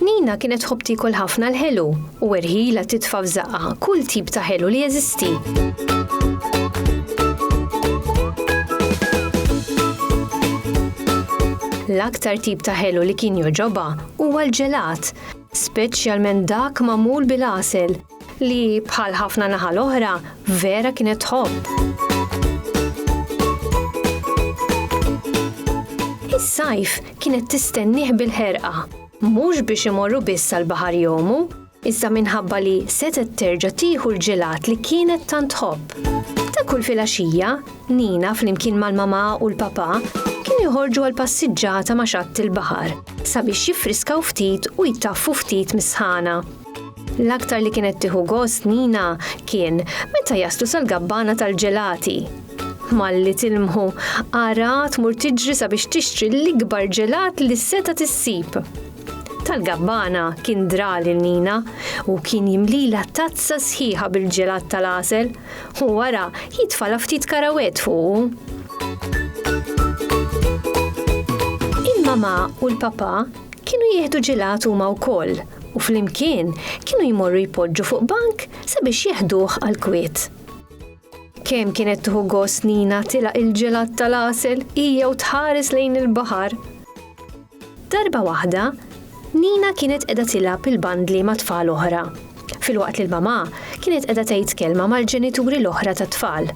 Nina kienet tħobb tiekol ħafna l-ħelu u erħilha titfa' f'żaqqha kull tip ta' ħelu li jeżisti. L-aktar tip ta' ħelu li kien jogħġobha huwa l-ġelat, speċjalment dak magħmul bil-għasel. Li bħal ħafna naħa l-oħra, vera kienet tħobb. Is-sajf kienet tistennih bil-ħerqa, mhux biex imorru biss sal-baħar jomu, iżda minħabba li setgħet terġa' tieħu l-ġelat li kienet tant tħobb. Ta' kull filgħaxija, Nina flimkien mal-mama u l-papa kienu joħorġu għal passiġġata ma' xatt il-baħar sabiex jiffriskaw ftit u jtaffu ftit mis-sħana. L-aktar li kienet tieħu gost Nina kien meta jaslu sal-gabbana tal-ġelati. Malli tilmħu, ara tmur tiġri sabiex tixtri l-ikbar ġelat li seta' tissib. Tal-gabbana kien dra lil Nina u kien jimlila tazza sħiħa bil-ġelat tal-għasel u wara jitfala ftit karawett fuqu. Il-mamà u l-papà kienu jieħdu ġelat huma wkoll u flimkien kienu jmorru jpoġġu fuq bank sabiex jeħduh għall-kwiet. Kemm kienet tieħu gost Nina tilaq il-ġelat tal-għasel hija u tħares lejn il-baħar. Darba waħda, Nina kienet qiegħda tilgħab il-bandli ma' tfal oħra, filwaqt li l-mamà kienet qiegħda tgħid kelma mal-ġenituri l-oħra tat-tfal.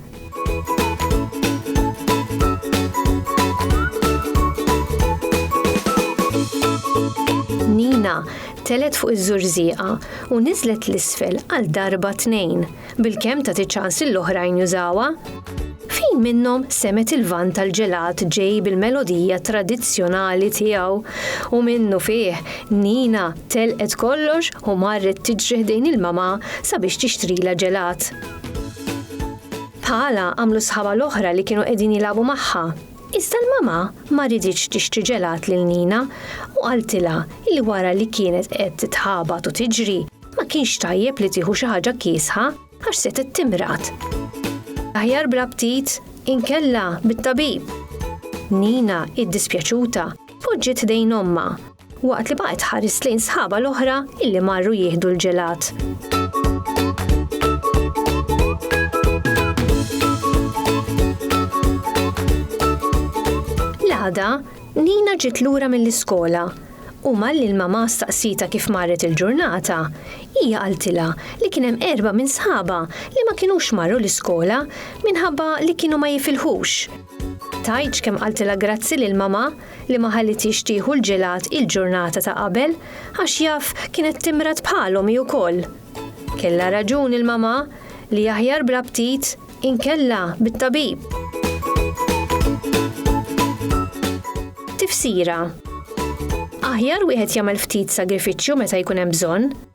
Nina telet fuq iż-żurżieqa u niżlet l-isfel għal darba tnejn, bil-kemm ta' tiċans l-oħrajn jużawa. Fejn minnhom semet il-van tal-ġelat ġej bil-melodija tradizzjonali tiegħu u minnu fih Nina telqet kollox u marret tiġri ħdejn il-mama sabiex tixtrila ġelat. Bħalha għamlu sħabha l-oħra li kienu qegħdin jilagħbu magħha. Iżda l-mama ma riditx tixtri ġelat lil Nina u qaltilha li wara li kienet qed titħabat u tiġri, ma kienx tajjeb li tieħu xi ħaġa kiesħa għax setgħet timrad. Aħjar bla ptit, inkella bit-tabib. Nina, iddispjaċuta, poġġiet ħdejn ommha Waqt li baqgħet tħares lejn sħabha l-oħra illi marru jieħdu l-ġelat. għada, Nina ġiet lura mill-iskola u malli l-mama staqsita kif marret il-ġurnata, hija għaltila li kien hemm erba' minn sħaba li ma kinux marru l-iskola minħabba li kienu ma jifilħux. Tajċ kemm għaltila grazzi lil mama li ma ħallithiex tieħu l-ġelat il-ġurnata ta' qabel għax jaf kienet timrad bħalhom hi wkoll. Kellha raġun il-mamà li aħjar bla ptit inkella bit-tabib. Tifsira, Aħjar wieħed jagħmel ftit sagrifiċċju meta jkun hemm bżonn.